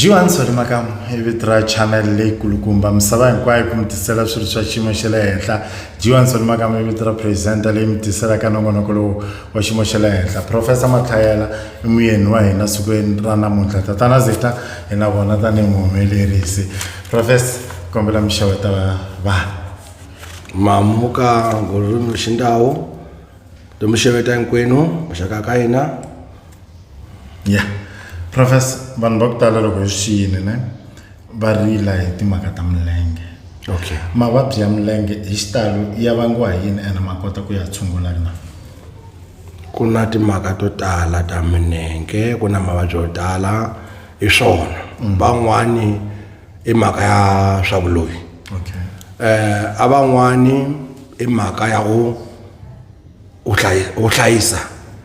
jiwani sori makamu hi vito ra channel leyi kulukumba misava hinkwayo ku mi tisela swilo swa xiyimo xa le henhla jiwani sori makamu hi vito ra presenta leyi mi tiselaka nongonoko lowu wa xiyimo xa le henhla professor matlhayela i muyeni wa hina sikwini ra namuntlha tatana zita hi na vona tanihi muhumelerisi professor kombela mixavetela vanhu mamuka ngorurimi rwechindau tomusheveta nkwenu zvakakaina ya professor vanhu va ku tala loko hi swi xiyile ne va rila hi timhaka ta milenge okay mavabyi ya milenge hi xitalo ya vangiwa hi yini ene ma kota ku ya tshungula na ku na timhaka to tala ta minenge ku na mavabyi yo tala hi swona van'wani i mhaka ya swa vuloyi okay eh aban'wani i mhaka ya go u hlayisa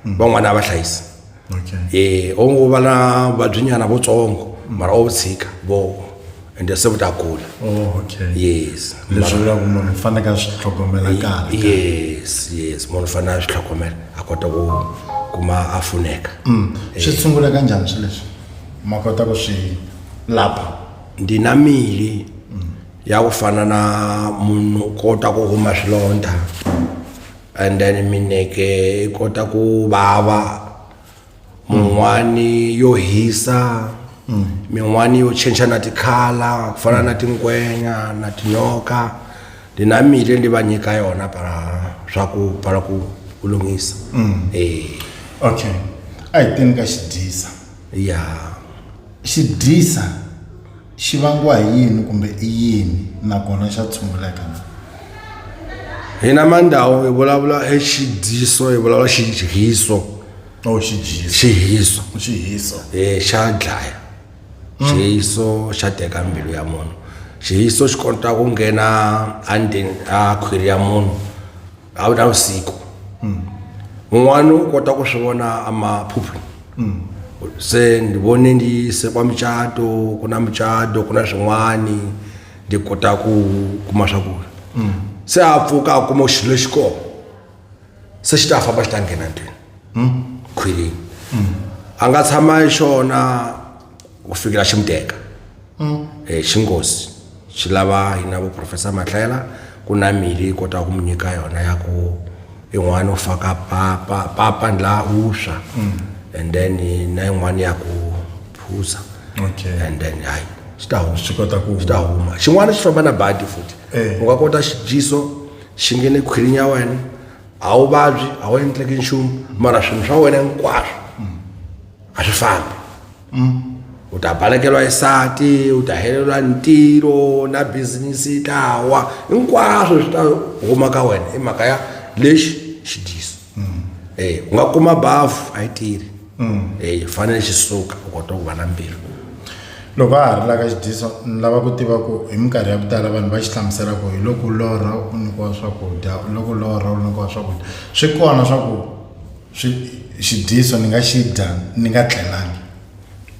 mm. van'wana a va hlayisa okay eh o ngo va na vabyinyana votsongo mara o tshika vo ende se vuta kula oh okay yes leswi vula ku munhu fanele ka swi tlhogomela kahle yes yes munhu fanele a swi tlhogomela a kota ku kuma a funeka mm. swi sungula kanjhani swi leswi ma kota ku swi lapha ndi na mili ya ku fana na munhu kota ku huma swilondha and then mineke i kota ku vava mun'wani yo hisa min'wani yo change na tikhala ku fana na tinkwenya na tinyoka ndi na mili ndi va nyika yona para swa ku para ku ku lunghisa eh okay a hi teni ka xidyisa ya xi dyisa xi vangiwa hi yini kumbe i yini nakona xa tshunguleka njhani hina mandhawu hi vulavula hi xidyiso hi vulavula xidyiso o xi dyisa xihiso xi hisa eh xa dlaya xihiso xa teka mbilu ya munhu xihiso xi kota ku nghena endzeni a khwiri ya munhu a wu na vusiku un'wana u kota ku swi vona amaphuphu se ni vone ni se kwa mucato ku na mucato ku na swin'wani ni kota ku kuma swakudya se a pfuka a kuma xilo lexi kona se xi ta famba xi ta nghena ndlwini khwilini a nga tshama hi xona ku fikela xi muteka um xi ngozi xi lava hina vo professor matlela ku na mili yi kotaka ku mi nyika yona ya ku yin'wana u faka papa papa ni laha u swa and then na yin'wana ya ku phuza Okay. and then hayi swi ta huma swi kota ku swi ta huma xin'wana xi famba na badi futhi Eh. u nga kota xidyiso xi nghene khwirini ya wena a wu vabyi a wu endleki nchumu mara swilo swa wena hinkwaswo a swi fambi u ta balekelwa isati u ta helelwa ntirho na bizinisi yi ta wa hinkwaswo swi ta huma ka wena i mhaka ya lexi xidyiso um u nga kuma bafu a yi tirhi eyi fanele xi suka u kota ku va na mbirhi loko a ha ri laka xidyiso ni lava ku tiva ku hi minkarhi ya ku tala vanhu va xi hlamusela ku hi loko u lorha u nyikiwa swakudya u loko u lorha u nyikiwa swakudya swi kona swa ku swi xidyiso ni nga xi dya ni nga tlelangi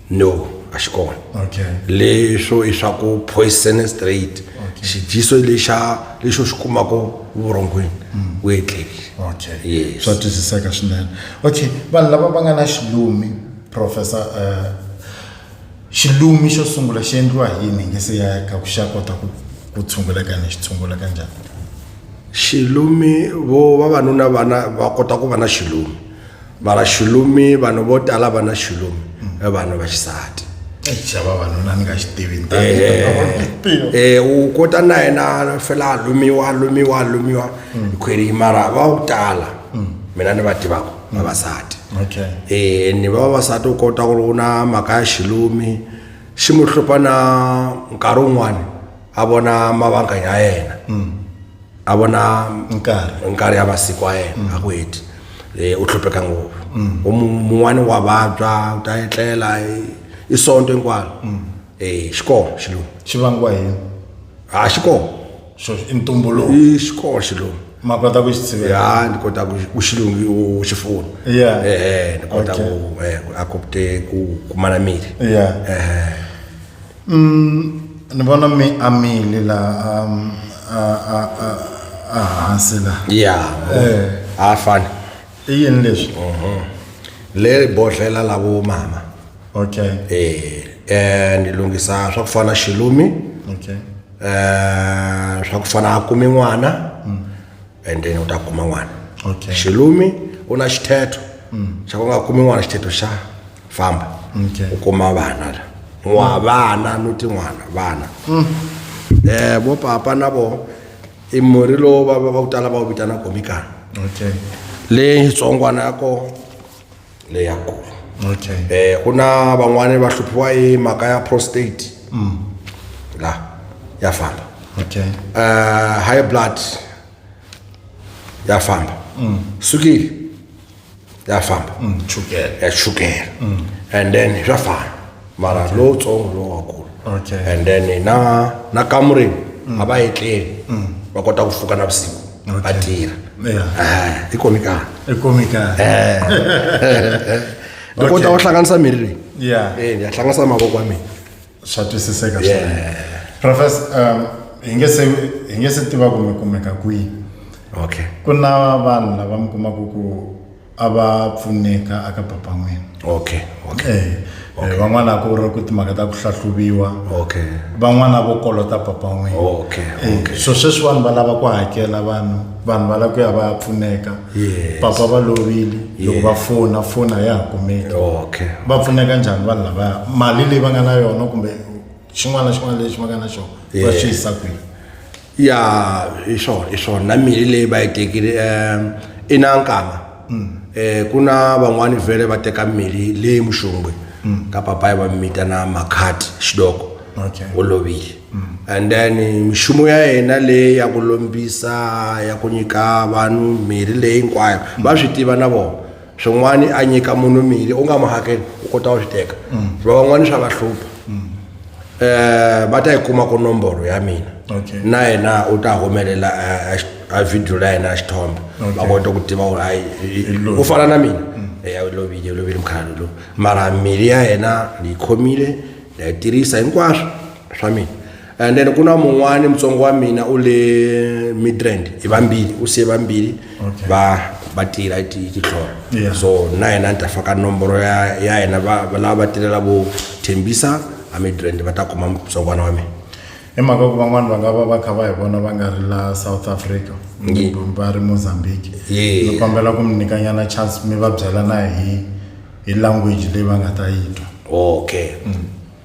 no a xi kona okay leswo i swa ku poison straight okay. xidyiso lexa lexo xi kumaka vurhongweni mm. we etlelile okay yes. swa twisiseka swinene okay vanhu lava va nga na xilumi professor uh, xilumi xo sungula xi endliwa hi yini nge se ya ka ku xa kota ku ku tshunguleka ni xi tshungula ka njhani xilumi vo vavanuna vana va kota ku va na xilumi mara xulumi vanhu vo tala va na xulumi i vanhu va xisati xava vanuna ni nga xi tivi eh, eh, u kota na yena fela a lumiwa a lumiwa a lumiwa mm. khweri mara va wu tala mm. mina ni va tivaka mm. vavasati eh, ni vavasati u kota ku ri u na mhaka ya xilumi xi mu hlupha na nkarhi wun'wani a vona mavanganya ya yena mm. a vona nkarhi ya masiku ya yena mm. a ku heti e, u hlupheka ngopfu mm. mun'wani wa vabya u ta etlela i sonto hinkwalo e, xikolo xilungu xi vangiwa hi a ah, xikolo i ntumbuluko i xikolo xilungu ma kota ku xi sivela ya ni kota ku xilungi u xi fona yeah eh, eh ni kota ku eh, a kopte ku kumana miri yeah eh, eh. Mm, ni vona mi amile la um, a a a a hansi la. ya Eh. a fani I yini leswi? le bodhlela la vo mama Okay. eh eh ni lunghisa swa ku fana xilumi Okay. eh swa ku fana a kumi n'wana and then u ta kuma n'wana Okay. xilumi u na xithetho xa ku nga kumi n'wana xithetho xa famba Okay. u kuma vana la n'wa vana no tin'wana vana um vo papa na vo i murhi lowu va va va ku tala va wu vitana komikana okay leyi xitsongwana ya kona leyakulu okay eh ku na van'wani va hluphiwa hi mhaka ya prostate mm. la ya famba okay uh, high blood ya famba mm. sukiri ya famba mm, chukela ya chukela mm. and then swa fana mara lowutsongo lowakulu Okay. and then na na kamureni a va etleli va kota ku pfuka na vusiku va Okay. tirha Yeah. Ah, ti khomi kahle I khomi kahle. ni kota Okay. ku hlanganisa miri leyi Yeah. Eh, ni ya hlanganisa mavoko ya mina Swa twisiseka Yeah. swinene. Professor, um, hi nge se hi nge se tiva ku mi kumeka kwihi. okay Ku na vanhu lava mi kumaka ku a va pfuneka aka papan'wini okay okay eh, eh okay. Eh, van'wana a ku ri ku timhaka ta ku hlahluviwa okay van'wana vo kolota papan'wini okay, eh, okay. Eh, so sweswi vanhu va lava ku hakela vanhu vanhu va lava ku ya va ya pfuneka yes. papa va lovile loko va fona foni a ya ha kumeki okay. va pfuneka njhani vanhu lavaya mali leyi va nga na yona kumbe xin'wana na xin'wana lexi va nga na xona va swi yisa kwihi ya hi swona hi swona na mirhi leyi va yi tekile um i na nkama um ku na van'wani vhele va teka mirhi leyi muxongwe ka papayi va mi vitana makhati xidoko Okay. u lovile and then mixumo ya yena leyi ya ku lombisa ya ku nyika vanhu mirhi leyi hinkwayo va swi tiva na vona swin'wana a nyika munhu mili u nga mu hakeli u kota u swi teka mm. va van'wana swa va hlupha mm. eh, va ta yi kuma ku nomboro ya mina na yena u ta humelela eh, eh, a video la yena a xithombe va kota ku tiva u fana na mina mm. eya u lovile u lovile mukhalalo lowu mara mili ya yena ni yi khomile na yi tirhisa hinkwaswo swa mina and then ku na mun'wani mutsongo wa mina u le midrand hi vambili u siye vambili va va tirha hi ti- hi titlhoro Yeah. so na yena ni ta faka nomboro ya ya yena va- va- lava va tirhela vo thembisa a midrand va ta kuma mutsongwana wa mina hi mhaka ku van'wani va nga va va kha va hi vona va nga ri la south africa Ye. va ri mozambique Ye. ni kombela ku mi nyikanyana chance mi va byela na hi hi language leyi va nga ta yi twa okay